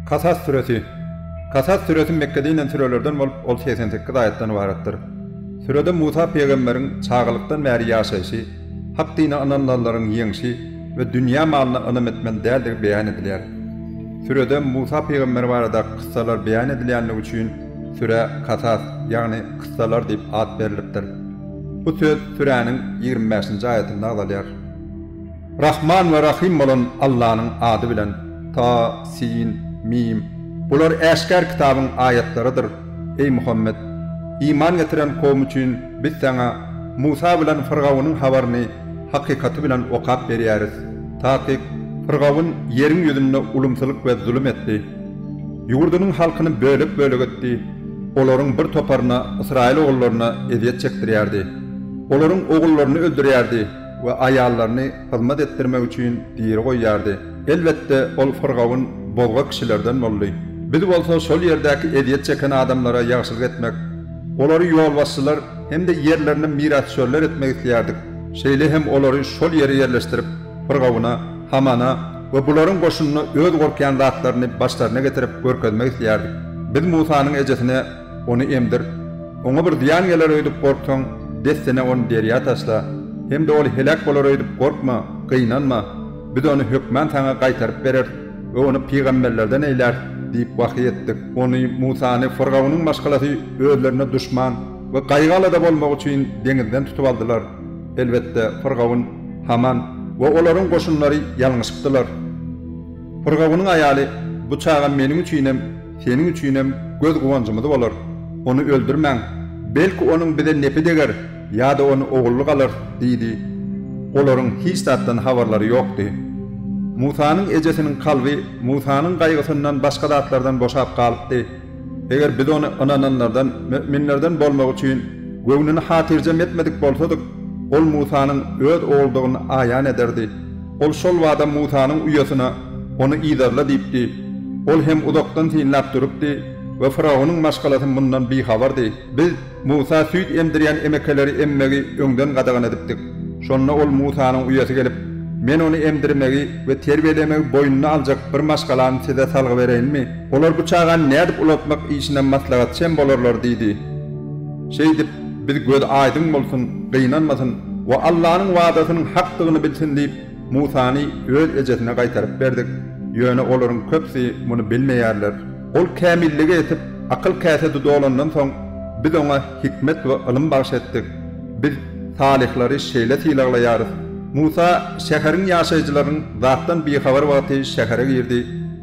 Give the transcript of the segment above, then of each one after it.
Kasas süresi. Kasas süresi Mekgede inen sürelerden bolup, ol segsen sekiz aýatdan ybaratdyr. Sürede Musa pygamberiň çagalykdan bäri ýaşaýşy, Hak dine ynanylanlaryň ýeňşi we dünýä malyna ynam etmän däldigi beýan edilýär. Sürede Musa pygamber baradaky kyssalar beýan edilýänligi üçin sürä Kasas, ýagny Kyssalar diýip at berlipdir. Bu söz süräniň ýigrimi bäşinji aýatynda agzalýar. Rahman we Rahym bolan Allanyň ady bilen, Ta, Sin, Mim. Bular Äşgär kitabyň aýatlarydyr. Eý Muhammet! Iman getiren kowum üçin Biz saňa Musa bilen Fyrgawynyň habaryny hakykaty bilen okap berýäris. Takyk, Fyrgawyn ýeriň ýüzünde ulumsylyk we zulum etdi. Ýurdunyň halkyny bölek-bölek etdi. Olaryň bir toparyna, ysraýyl ogullaryna ezýet çekdirýärdi. Olaryň ogullaryny öldürýärdi. we aýallaryny hyzmat etdirmek üçin diri goýýardy. Elbetde, ol firgawun bozga kişilerden boldy. Biz bolsa şol ýerdäki ezýet çeken adamlara ýagşylyk etmek, olary ýolbaşçylar hem-de ýerlerine mirasdüşerler etmek isleýärdik, şeýle hem olary şol ýere ýerleşdirip, firgawuna, Hamana we bularyň goşunyna öz gorkýan zatlaryny başlaryna getirip görkezmek isleýärdik. Biz Musanyň ejesine. Ony emdir. Oňa bir zyýan geler öýdüp gorksaň, dessine ony derýa taşla. Hem-de ol heläk bolar öýdüp gorkma, gynanma. Biz ony hökman saňa gaýtaryp bereris we ony pygamberlerden eýläris diýip wahyý etdik. Ony, Musany, Fyrgawnyň maşgalasy özlerine duşman we gaýgy-alada bolmagy üçin deňizden tutup aldylar. Elbetde, Fyrgawun, Haman we olaryň goşunlary ýalňyşypdylar. Fyrgawunyň aýaly, Bu çaga meniň üçinem Seniň üçinem göz guwanjymyz bolar. Ony öldürmäň. Belki, onuň bize nepi deger ýa-da ony ogullyk alar, diýdi. Olaryň hiç zatdan habarlary ýokdy. Musanyň ejesiniň kalby Musanyň gaýgysyndan başga zatlardan boşap galypdy. Eger biz ony ynananlardan, müminlerden bolmagy üçin göwnüni hatyrjem etmedik bolsadyk, ol Musanyň öz ogludygyny aýan ederdi. Ol şol bada Musanyň uýasyna, Ony yzarla diýipdi. Ol hem uzakdan synlap durupdy we faraonyň maşgalasy mundan bihabardy. Biz Musa süýt emdirýän emekeleri emmegi öňden gadagan edipdik. Şonda ol Musanyň uýasy gelip, Men ony emdirmegi we terbiýelemegi boýnuna aljak bir maşgalany size salgy bereýinmi? Olar bu çagany nädip ulaltmak işine maslahatçy hem bolarlar diýdi. Şeýdip, Biz gözi aýdyň bolsun, gynanmasyn we Allanyň wadasynyň hakdygyny bilsin diýip, Musany öz ejesine gaýtaryp berdik. Ýöne olaryň köpüsi muny bilmeýärler. Ol kämillige ýetip, akyl käsedi dolandan soň, biz oňa hikmet we ylym bagyş etdik. Biz salyhlary şeýle sylaglaýarys. Musa şäheriň ýaşaýjylarynyň zatdan bihabar wagty şähere girdi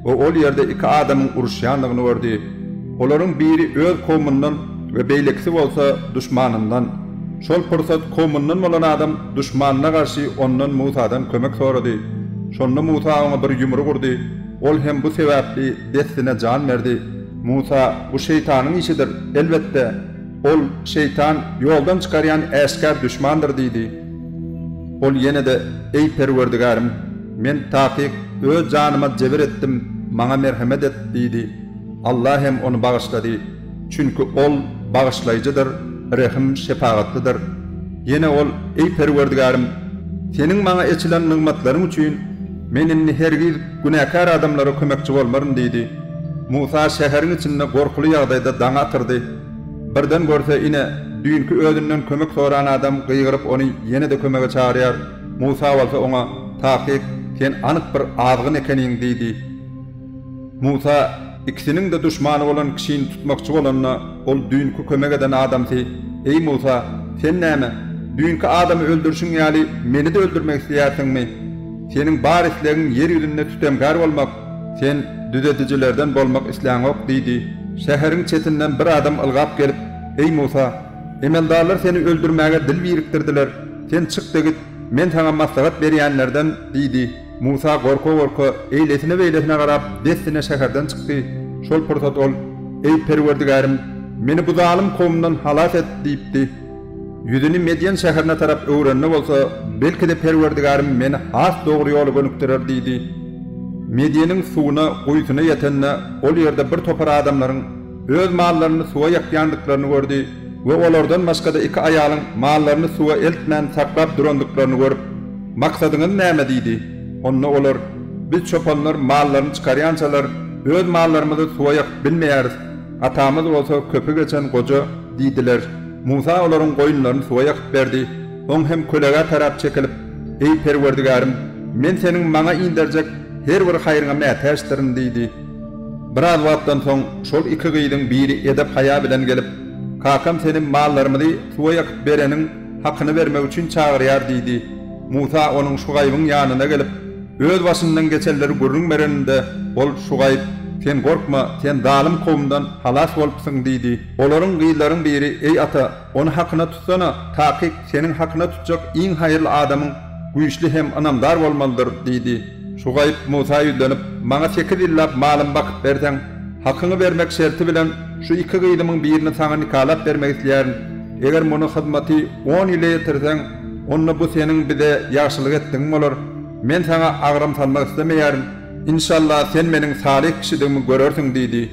we ol ýerde iki adamyň uruşýandygyny gördi. Olaryň biri öz kowmundan we beýlekisi bolsa duşmanyndan. Şol pursat kowmundan bolan adam duşmanyna garşy ondan, Musadan, kömek sorady. Şonda Musa oňa bir ýumruk urdy. Ol hem bu sebäpli dessine jan berdi. Musa, Bu şeýtanyň işidir, elbetde, ol, şeýtan, ýoldan çykarýan äşgär duşmandyr diýdi. Ol ýene-de, Eý, Perwerdigärim, men, takyk, öz janyma jebir etdim, maňa merhemet et diýdi. Allah hem ony bagyşlady, çünki Ol Bagyşlaýjydyr, Rehim-şepagatlydyr. Ýene ol, Eý Perwerdigärim! Seniň maňa eçilen nygmatlaryň üçin men indi hergiz günäkär adamlara kömekçi bolmaryn diýdi. Musa şäheriň içinde gorkuly ýagdaýda daňy atyrdy. Birden görse, ine, düýnki özünden kömek soran adam gygyryp ony ýene-de kömege çagyrýar, Musa bolsa oňa, Takyk, sen anyk bir azgyn ekeniň diýdi. Musa ikisiniň-de duşmany bolan kişini tutmakçy bolanda, ol düýnki kömek eden adamsy, Eý Musa, sen näme, düýnki adamy öldürşiň ýaly, meni-de öldürmek isleýärsiňmi? Seniň bar islegiň ýer ýüzünde sütemgär bolmak, sen düzedijilerden bolmak isläňok diýdi. Şäheriň çetinden bir adam ylgap gelip, Eý Musa, emeldarlar seni öldürmäge dil birikdirdiler, sen çyk-da git, men saňa maslahat berýänlerden diýdi. Musa gorka-gorka eýlesine-beýlesine garap, dessine şäherden çykdy. Şol pursat ol, Eý, Perwerdigärim, meni bu zalym kowumdan halas et! diýipdi. Ýüzüni Medýen şäherine tarap öwrende bolsa, Belki-de, Perwerdigärim meni has dogry ýola gönükdirer diýdi. Medýeniň suwuna, guýusyna ýetende, ol ýerde birtopar adamlaryň, öz mallaryny suwa ýakýandyklaryny gördi we olardan başga-da iki aýalyň mallaryny suwa eltmän saklap durandyklaryny görüp, Maksadyňyz näme? diýdi. Onda olar, Biz çopanlar mallaryny çykarýançalar, öz mallarymyzy suwa ýakyp bilmeýäris, atamyz bolsa köpi geçen goja diýdiler. Musa olaryň goýunlaryny suwa ýakyp berdi. Oň hem kölegä tarap çekilip, Eý, Perwerdigärim, men Seniň maňa inderjek her bir haýryňa mätäçdirin diýdi. Biraz wagtdan soň şol iki gyzyň biri edep-haýa bilen gelip, Kakam seni mallarymyzy suwa ýakyp bereniň hakyny bermek üçin çagyrýar diýdi. Musa onuň Şugaýbyň ýanyna gelip, öz başyndan geçenleri gürrüň bereninde, ol Şugaýb, Sen gorkma, sen zalym kowumdan halas bolupsyň diýdi. Olaryň gyzlaryň biri, Eý ata, Ony hakyna tutsana, takyk seniň hakyna tutjak iň haýyrly adamyň güýçli hem ynamdar bolmalydyr, diýdi. Şugaýyp Musa ýüzlenip, Maňa sekiz ýyllap malymy bakyp berseň, hakyňy bermek şerti bilen şu iki gyzymyň birini saňa nikalap bermek isleýärin. Eger muny hyzmaty on ýyla ýetirseň, onda bu seniň bize ýagşylyk etdigiň bolar. Men saňa agram salmak islemeýärin. Inşalla, sen meniň salyh kişidigimi görersiň, diýdi.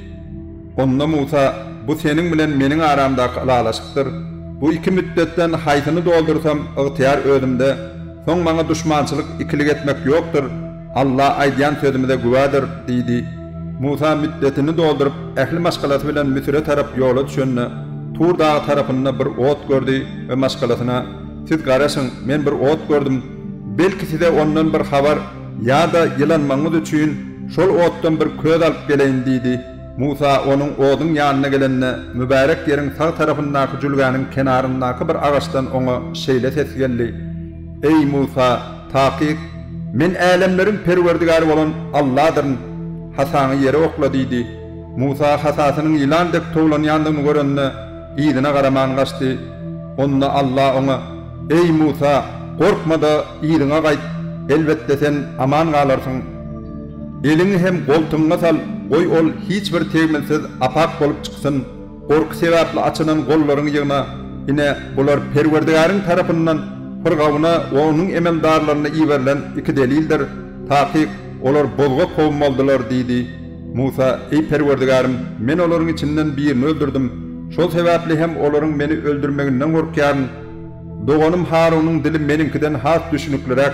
Onda Musa, Bu seniň bilen meniň aramdaky ylalaşykdyr. Bu iki mütdetden haýsyny doldursam, ygtyýar özümde. Soň maňa duşmançylyk, ikilik etmek ýokdur. Alla aýdýan sözümize güwädir, diýdi. Musa mütdetini dolduryp, ähli maşgalasy bilen Müsüre tarap ýola düşende, Tur dagy tarapynda bir ot gördi we maşgalasyna, Siz garaşyň, men bir ot gördüm. Belki size ondan bir habar ýa-da ýylanmagyňyz üçin, şol otdan bir köz alyp geleýin, diýdi. Musa onuň oduň ýanyna gelende, mübärek ýeriň sag tarapyndaky jülgäniň kenaryndaky bir agaçdan oňa şeýle ses geldi, Eý, Musa, takyk, Men älemleriň Perwerdigäri bolan Alladyryn. Hasaňy ýere okla diýdi. Musa hasasynyň ýylan dek towlanýandygyny görende, yzyna garaman gaçdy. Onda Alla oňa, Eý, Musa, gorkma-da, yzyňa gaýt, elbetde, sen aman galarsyň. Eliňi hem goltugyňa sal, goý ol hiç bir tegmilsiz apak bolup çyksyn. Gorky sebäpli açynan gollaryňy ýygna. Ine, bular Perwerdigäriň tarapyndan Pyrgawna we onuň emeldarlaryna iberilen iki delildir. Takyk, olar bozga kowum boldular, diýdi. Musa, Eý, Perwerdigärim, men olaryň içinden birini öldürdim. Şol sebäpli hem olaryň meni öldürmeginden gorkýaryn. Doganym Harunyň dili meniňkiden has düşnükliräk.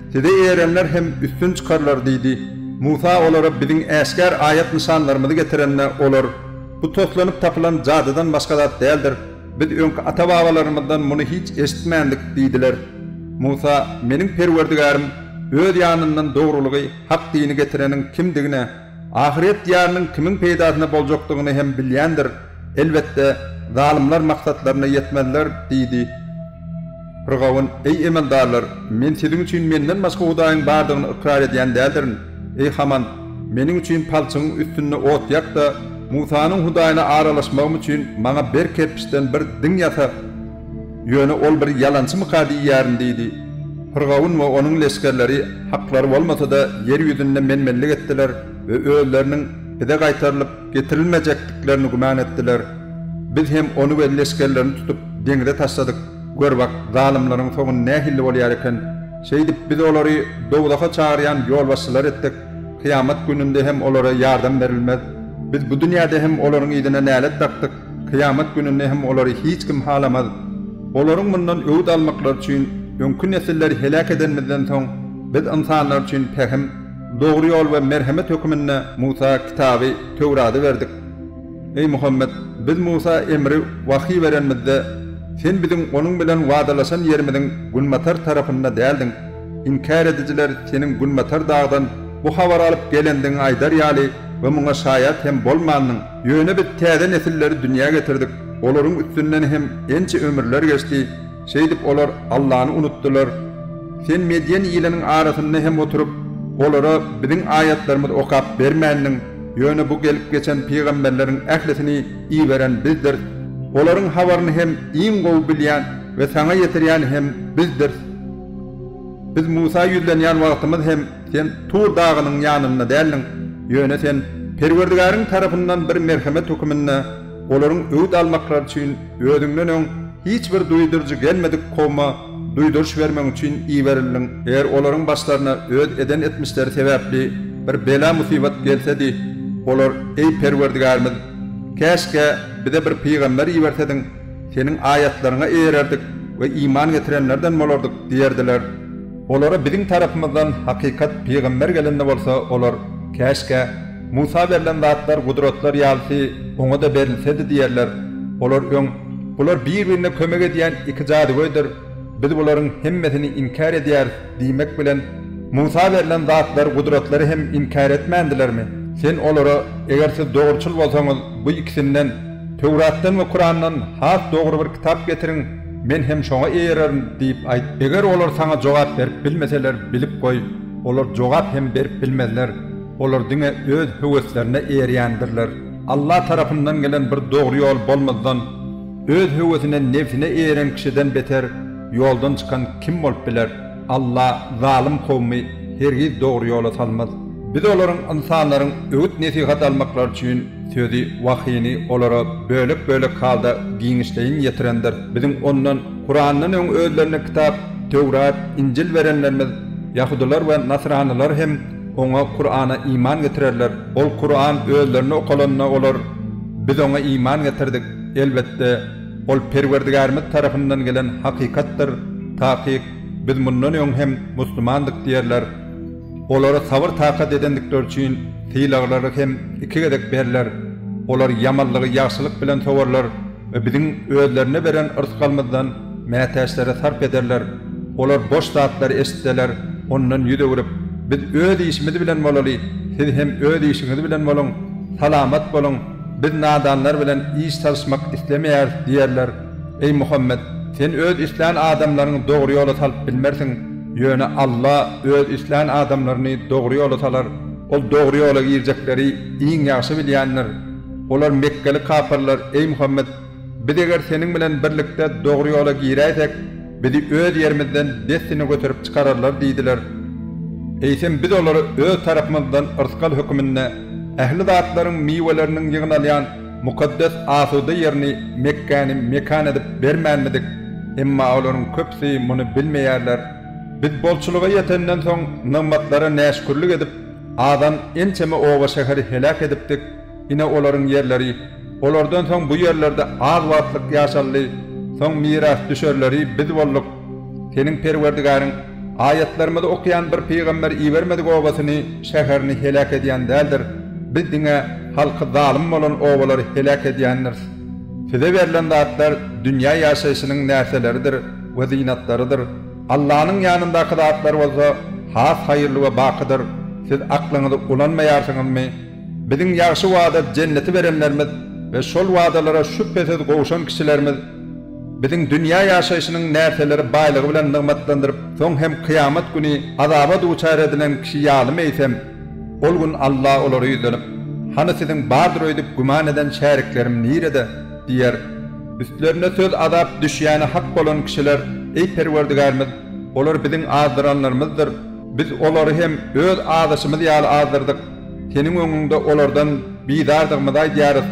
Size eýerenler hem üstün çykarlar diýdi. Musa olara biziň äşgär aýat-nyşanlarymyzy getirende, olar, Bu toslanyp tapylan jadydan başga zat däldir. Biz öňki ata-babalarymyzdan muny hiç eşitmändik diýdiler. Musa, Meniň Perwerdigärim Öz ýanyndan dogrulygy, hak dini getireniň kimdigine, ahyret diýarynyň kimiň peýdasyna boljakdygyny hem bilýändir. Elbetde, zalymlar maksatlaryna ýetmezler, diýdi. Pyrgawun, Eý, emeldarlar, men siziň üçin menden başga hudaýyň bardygyny ykrar edýän däldirin. Eý, Haman, meniň üçin palçygyň üstünde ot ýak-da, Musanyň Hudaýyna aralaşmagym üçin maňa berk kerpiçden bir diň ýasa. Ýöne ol bir ýalançymyka diýýärin, diýdi. Pyrgawun we onuň leşgerleri haklary bolmasa-da, ýer ýüzünde men-menlik etdiler we özleriniň bize gaýtarylyp, Getirilmejekdiklerini güman etdiler. Biz hem ony we leşgerlerini tutup, deňize taşladyk. Gör bak, zalymlaryň soňy nähilli bolýar eken. Şeýdip, biz olary dowzaha çagyrýan ýolbaşçylar etdik. Kyýamat gününde hem olara ýardam berilmez. Biz bu dünýäde hem olaryň yzyna nälet dakdyk, kyýamat gününde hem olary hiç kim halamaz. Olaryň mundan öwüt almaklary üçin, öňki nesilleri heläk edenimizden soň, biz ynsanlar üçin pähim, Dogry ýol we merhemet höküminde Musa kitaby, Töwrady berdik. Eý, Muhammet, Biz Musa emri, wahyý, berenimizde, sen biziň onuň bilen wadalaşan ýerimiziň günbatar tarapynda däldiň. Inkär edijiler seniň günbatar dagdan bu habary alyp gelendigiňi aýdar ýaly we muňa şaýat hem bolmandyň. Ýöne Biz täze nesilleri dünýä getirdik, olaryň üstünden hem ençe ömürler geçdi. Şeýdip, olar Allany unutdylar. Sen medýen iliniň arasynda hem oturyp, olara Biziň aýatlarymyzy okap bermändiň, ýöne bu gelip geçen pygamberleriň ählisini iberen Bizdiris. Olaryň habaryny hem iň gowy bilýän we saňa ýetirýän hem Bizdiris. Biz Musa ýüzlenýän wagtymyz hem sen Tur dagynyň ýanynda däldiň, ýöne sen Perwerdigäriň tarapyndan bir merhemet höküminde, Olaryň öwüt almaklary üçin özüňden öň hiç bir duýduryjy gelmedik kowma duýduryş bermek üçin iberildiň. Eger olaryň başlaryna öz eden etmişleri sebäpli bir bela-musibat gelsedi, olar, Eý, Perwerdigärimiz! Käşgä, bize bir pygamber ibersediň, Seniň aýatlaryňa eýererdik we iman getirenlerden bolardyk diýerdiler. Olara biziň tarapymyzdan hakykat pygamber gelende bolsa, olar, Käşgä! Musa berlen zatlar gudratlar ýalysy oňa-da berilsedi diýerler. Olar öň, Bular bir-birine kömek edýän iki jadygöýdir. Biz bularyň hemmesini inkär edýäris diýmek bilen, Musa berlen zatlar gudratlary hem inkär etmändilermi? Sen olara, Eger siz dogruçyl bolsaňyz, bu ikisinden, Töwratdan we Kurandan, has dogry bir kitap getiriň, men hem şoňa eýererin diýip aýt. Eger olar saňa jogap berip bilmeseler, bilip goý, olar jogap hem berip bilmezler. Olar diňe öz höweslerine eýerýändirler. Alla tarapyndan gelen bir dogry ýol bolmazdan, öz höwesine, nebsine eýeren kişiden beter ýoldan çykan kim bolup biler? Alla zalym kowmy hergiz dogry ýola salmaz. Biz olaryň, ynsanlaryň, öwüt-nesihat almaklary üçin sözi, wahyny, olara bölek-bölek halda giňişleýin ýetirendir. Biziň ondan, Kurandan öň özlerine kitap, Töwrat, Injil berenlerimiz, ýahudylar we nasranylar hem, Oňa, Kur'ana, iman getirerler. Ol, Kur'an, özlerine okalanda olar, Biz oňa iman getirdik. Elbetde, ol Perwerdigärimiz tarapyndan gelen hakykatdyr. Takyk, biz mundan öň hem musulmandyk diýerler. Olara sabyr-takat edendikleri üçin sylaglary hem iki gezek berler. Olar ýamanlygy ýagşylyk bilen sowarlar. we biziň özlerine beren rysgalymyzdan mätäçlere sarp ederler, olar boş zatlary eşitseler, ondan ýüz öwrüp, Biz öz işimiz bilen bolaly, siz hem öz işiňiz bilen boluň, salamat boluň, biz nadanlar bilen iş salyşmak islemeýäris diýerler. Eý Muhammet, sen öz islän adamlaryňy dogry ýola salyp bilmersiň, ýöne Alla öz islän adamlaryny dogry ýola salar. Ol dogry ýola girjekleri iň ýagşy bilýändir. Olar mekgeli kapyrlar, Eý Muhammet! Biz eger seniň bilen birlikde dogry ýola giräýsek, bizi öz ýerimizden dessine göterip çykararlar diýdiler. Eýsem biz olara öz tarapymyzdan yrsgal höküminde ähli zatlaryň miweleriniň ýygnalýan mukaddes asuda ýerini, Mekgäni, mekan edip bermänmidik? Emma olaryň köpüsi muny bilmeýärler. Biz bolçulyga ýetenden soň nygmatlara näşükürlik edip, Adam ençeme oba-şäheri heläk edipdik, ine olaryň ýerleri, olardan soň bu ýerlerde az wagtlyk ýaşaldy, soň mirasdüşerleri biz bolduk. Seniň Perwerdigäriň aýatlarymyzy okaýan bir pygamber ibermedik obasyny, şäherini heläk edýän däldir, biz diňe halky zalym bolan obalary heläk edýändiris. Size berlen zatlar dünýä ýaşaýşynyň närseleridir we zynatlarydyr. Allanyň ýanyndaky zatlar bolsa has haýyrly we bakydyr, siz aklyňyzy ulanmaýarsyňyzmy? Biziň ýagşy wada Jenneti berenlerimiz we şol wadalara şübhesiz gowşan kişilerimiz Biziň dünýä ýaşaýşynyň närseleri baýlygy bilen nygmatlandyryp, soň hem kyýamat güni azaba duçar edilen kişi ýalymy eýsem? Ol gün Alla olary ýüzlenip, Hany siziň bardyr öýdüp güman eden şäriklerim nirede? Diýer, Üstlerine söz azap düşýäni hak bolan kişiler, Eý Perwerdigärimiz! Olar biziň azdyranlarymyzdyr. Biz olary hem öz azyşymyz ýaly azdyrdyk. Seniň öňüňde olardan bizardygymyzy aýdýarys.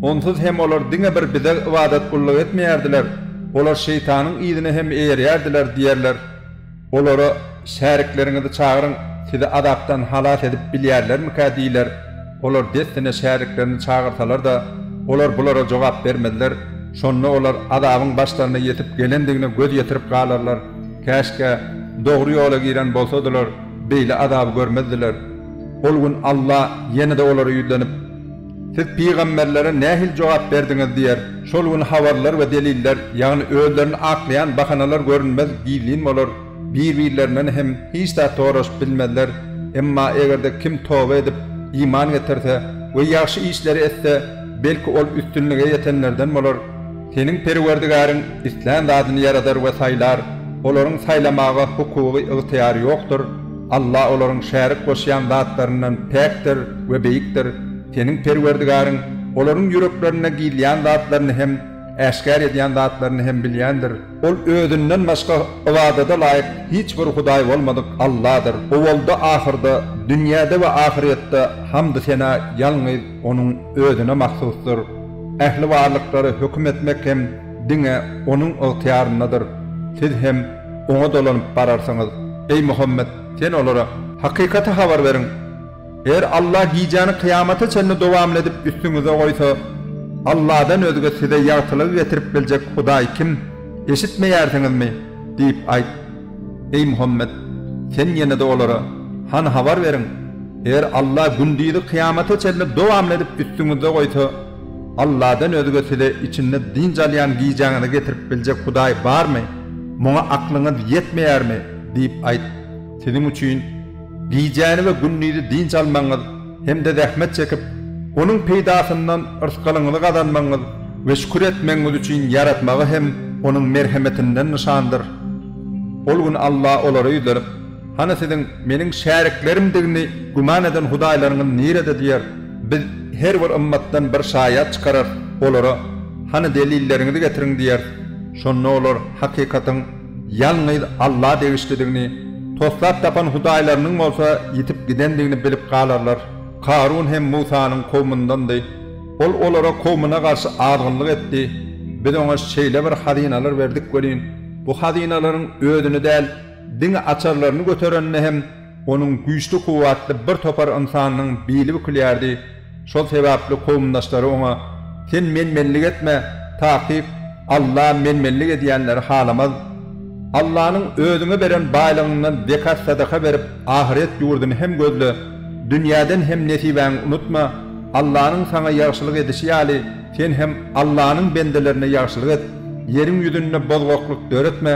Onsuz hem olar diňe bir Bize ybadat-gulluk etmeýärdiler, olar şeýtanyň yzyna hem eýerýärdiler diýerler. Olara, Şärikleriňizi çagyryň, sizi azapdan halas edip bilýärlermikä? diýiler. Olar dessine şäriklerini çagyrsalar-da, olar bulara jogap bermezler. Şonda olar azabyň başlaryna ýetip gelendigine göz ýetirip galarlar. Käşgä, dogry ýola giren bolsadylar, beýle azaby görmezdiler. Ol gün Alla ýene-de olara ýüzlenip. Siz pygamberlere nähili jogap berdiňiz? diýer. Şol gün habarlar we deliller, ýagny özlerini aklaýan bahanalar görünmez, gizlin bolar. Bir-birlerinden hem hiç zat soraşyp bilmezler. Emma eger-de kim toba edip, iman getirse we ýagşy işleri etse, belki, ol üstünlige ýetenlerden bolar. Seniň Perwerdigäriň islän zadyny ýaradar we saýlar, olaryň saýlamaga hukugy, ygtyýary ýokdur. Allah olaryň şärik goşýan zatlaryndan päkdir we beýikdir, seniň Perwerdigaryň olaryň ýüreklerinde gizlän zatlaryny hem, äşgär edýän zatlaryny hem bilýändir. Ol Özünden başga ybadada laýyk hiç bir hudaý bolmadyk Allahdyr. Owalda-ahyrda, dünýäde we ahyrýetde hamdy-sena ýalňyz Onuň Özüne mahsusdyr. Ähli barlyklara höküm etmek hem diňe Onuň ygtyýaryndadyr. Siz hem. Oňa dolanyp bararsyňyz. Eý Muhammet! Sen olara. Hakykaty habar beriň. Eger Allah gijäni kyýamata çenli dowamly edip üstüňize goýsa, Allahdan özge size ýagtylygy getirip biljek Hudaý kim? Eşitmeýärsiňizmi? diýip aýt. Eý Muhammet! Sen ýene-de olara. Hany habar beriň! Eger Allah gündizi kyýamata çenli dowamly edip üstüňize goýsa, Alladan özge size içinde dynç alýan gijäňizi getirip biljek Hudaý barmy? Muňa aklyňyz ýetmeýärmi? diýip aýt. Siziň üçin gijäni we gündizi dynç almagyňyz hem-de zähmet çekip, onuň peýdasyndan yrsgalyňyzy gazanmagyňyz we şükür etmegiňiz üçin ýaratmagy hem Onuň merhemetinden nyşandyr. Ol gün Alla olary ýüzlenip. Hany siziň Meniň şäriklerimdigiňi güman eden hudaýlaryňyz nirede? diýer. Biz her bir ymmatdan bir şaýat çykararys, olara, Hany delilleriňizi getiriň diýeris. Şonda olar hakykatyň ýalňyz Alla degişlidigini, toslap tapan hudaýlarynyň bolsa ýitip gidendigini bilip galarlar. Karun hem Musanyň kowmundandy. Ol olara kowmuna garşy azgynlyk etdi. Biz oňa şeýle bir hazynalar berdik welin, bu hazynalaryň özüni däl, Diňe açarlaryny göterende hem onuň güýçli kuwwatly bir topar ynsannyň bili bükülýärdi, şol sebäpli kowumdaşlary oňa, Sen men-menlik etme, takyk Alla men-menlik edýänleri halamaz. Allanyň özüňe beren baýlygyňdan zekat-sadaka berip ahyret ýurduny hem gözle, dünýäden hem nesibäňi unutma, Allanyň saňa ýagşylyk edişi ýaly sen hem Allanyň bendelerine ýagşylyk et, ýeriň ýüzünde bozgaklyk döretme,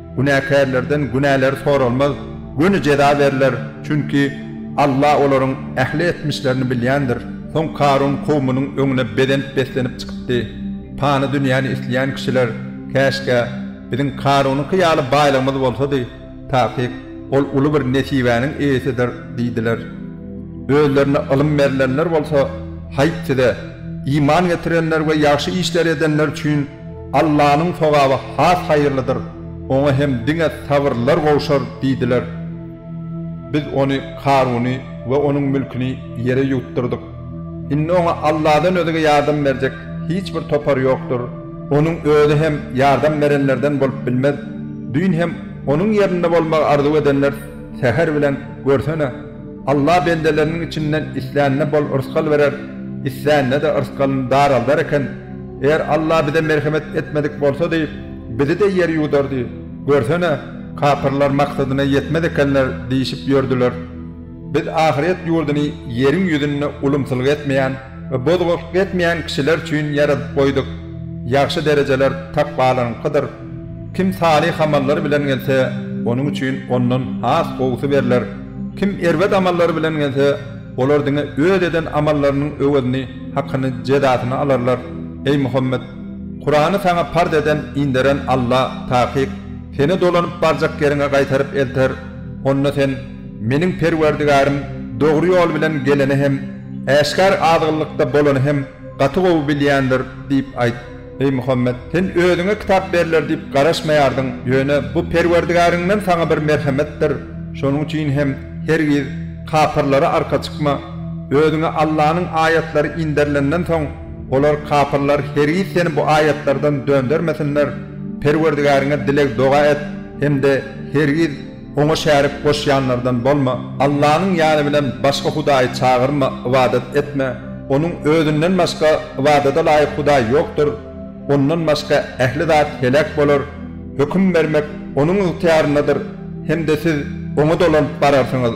Günäkärlerden günäleri soralmaz, göni jeza berler, çünki Alla olaryň ähli etmişlerini bilýändir. Soň Karun kowumynyň öňüne bezenip-beslenip çykypdy. Pany dünýäni isleýän kişiler, Käşgä, biziň Karunyňky ýaly baýlygymyz bolsady, takyk, ol uly bir nesibäniň eýesidir diýdiler. Özlerine ylym berlenler bolsa, Haýp size, iman getirenler we ýagşy işleri edenler üçin Allanyň sogaby has haýyrlydyr, oňa hem diňe sabyrlylar gowşar diýdiler. Biz ony, Karuny, we onuň mülküni ýere ýuwutdyrdyk. Indi oňa Alladan özge ýardam berjek hiç bir topar ýokdur. Onuň özi hem ýardam berenlerden bolup bilmez. Düýn hem onuň ýerinde bolmagy arzuw edenler säher bilen, görsene! Alla bendeleriniň içinden islänine bol rysgal berer, islänine-de rysgalyny daraldar eken. Eger Alla bize merhemet etmedik bolsady, bizi-de ýer ýuwdardy. Görsene, kapyrlar maksadyna ýetmez ekenler diýşip ýördiler. Biz ahyret ýurduny ýeriň ýüzünde ulumsylyk etmeýän. we bozgulyk etmeýän kişiler üçin ýaradyp goýduk. Ýagşy derejeler takwalaryňkydyr. Kim salyh amallary bilen gelse, onuň üçin ondan has gowusy berler. Kim erbet amallary bilen gelse, olar diňe öz eden amallarynyň öwezini, hakyny, jezasyny alarlar. Eý Muhammet! Kurany saňa parz eden, inderen Alla, takyk, seni dolanyp barjak ýeriňe gaýtaryp elter. Onda sen, Meniň Perwerdigarym dogry ýol bilen geleni hem, äşgär azgynlykda bolany hem gaty gowy bilýändir diýip aýt, eý Muhammet! Sen özüňe kitap berler diýip garaşmaýardyň, ýöne bu Perwerdigaryňdan saňa bir merhemetdir, şonuň üçin hem hergiz kapyrlara arka çykma. Özüňe Allanyň aýatlary inderilenden soň, olar, kapyrlar, hergiz seni bu aýatlardan döndermesinler. Perwerdigaryňa dileg-doga et hem-de hergiz. Oňa şärik goşýanlardan bolma, Allanyň ýany bilen başga hudaýy çagyrma, ybadat etme. Onuň Özünden başga ybadada laýyk hudaý ýokdur. Ondan başga ähli zat heläk bolar. Höküm bermek Onuň ygtyýaryndadyr hem-de siz Oňa dolanyp bararsyňyz.